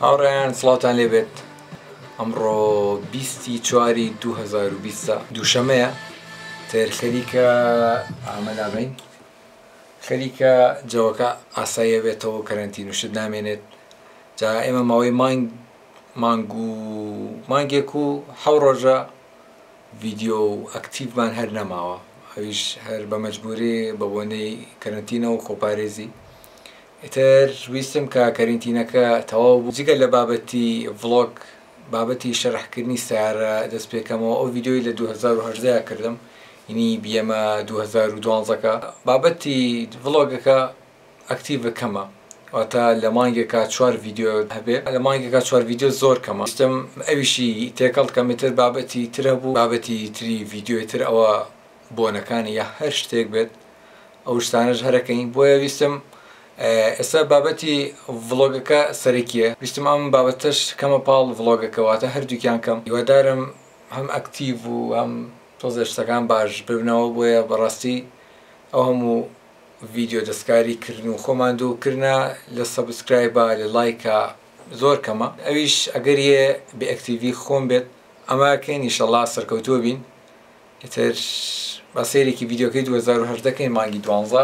هاوڕێیان سڵاوتان لێبێت ئەمڕۆ بیستی چواری 2020 دووشەمەیە تێر خەریکە ئامەدابین خەریکە جەوەکە ئاساییە بێتەوە کەرەنتین وشت نامێنێت جا ئێمە ماوەی مانگ مانگ و مانگێک و حەو ڕۆژە ڤیدیۆ و ئەکتیڤمان هەر نەماوە ئەویش هەر بە مەجبوری بە بۆنەی کەرەنتینە و خۆپارێزی ئیتر ویستم کە کەرینتینەکە تەواو بوو جگە لە بابەتی ڤڵۆگ بابەتی شەرح کردنی سەیارە دەست پێ کەمەوە ئەو ڤیدیۆی لە دوو هەزار و هەژدە کردم ینی بیەمە دوو هەزار و دوانزە کە بابەتی ڤڵۆگەکە ئەکتیڤ کەمە واتە لە مانگێکا چوار ڤیدیۆ هەبێ لە مانگێکا چوار ڤیدیۆ زۆر کەمە ویستم ئەویشی تێکەڵ کەم ئیتر بابەتی تر هەبوو بابەتی تری ڤیدیۆی تر ئەوە بۆنەکانی یا هەر شتێک بێت ئەو شتانەش هەرەکەین بۆیە ویستم ئێستا بابەتی ڤڵۆگەکە سەرەکیە ویستم ئەم بابەتەش کەمە پاڵ ڤڵۆگەکە واتە هەردووکیان کەم هیوادارم هەم ئەکتیڤ و هەم تۆزێ شتەکان باش ببنەوە بۆیە بەڕاستی ئەو هەموو ڤیدیۆ دەستکاری کردن و خۆمان دوو کرنە لە سەبسکرایبا لە لایکا زۆر کەمە ئەویش ئەگەر یێ بێ ئەکتیڤی خۆم بێت ئەمە کەین ئیشەڵا سەرکەوتوو بین ئیتر با سەیرێکی ڤیدیۆکەی دوو هەزار و هەژدە کەین مانگی دوانزە.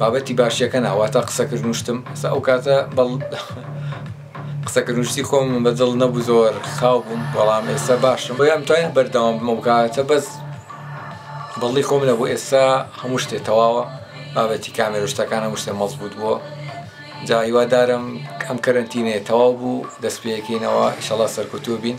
بابەتی باشیەکە نا واتا قسەکردن و شتم ئەسا ئەو کاتە بەڵ قسەکردن و شتی خۆم بە دڵ نەبوو زۆر خاو بووم بەڵام ئێستا باشم بۆیە ئەمتوانی بەردەوام بم ئەو کاتە بەس بەڵی خۆم نەبوو ئێستا هەموو شتێ تەواوە بابەتی کامێرە و شتەکان هەموو شتێ مەزبووت بووە جا هیوادارم ئەم کەرەنتینەیە تەواو بوو دەست پێ یەکەینەوە ئیشەڵا سەرکەوتوو بین.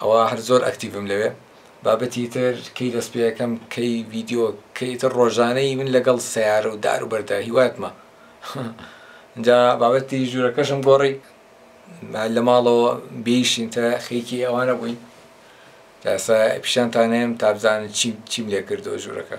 ئەوە هەر زۆر ئەکتیڤم لەوێ. بابەتی تر کەی دەست پێەکەم کەی ڤیدیۆ کەی تر ڕۆژانەی من لەگەڵ سەیارە و دار و بەردا هیواتمە جا بابەتی ژوورەکەشم گۆڕی لە ماڵەوە بێیشین تە خێکی ئەوانە بووین لاسا پیشانتانەیەم تابزانن چیم چیم لێ کردو ژوورەکە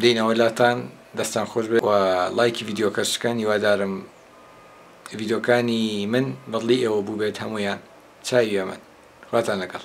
دێینەوە لاتان دەستان خۆش بێت و ڵایکی ڤیدیۆکەش بکەن هیوادارم ڤیدیۆکانی من بەدڵی ئێوە بووبێت هەموویان چاوی ئێمەن خواتان لەگەڵ.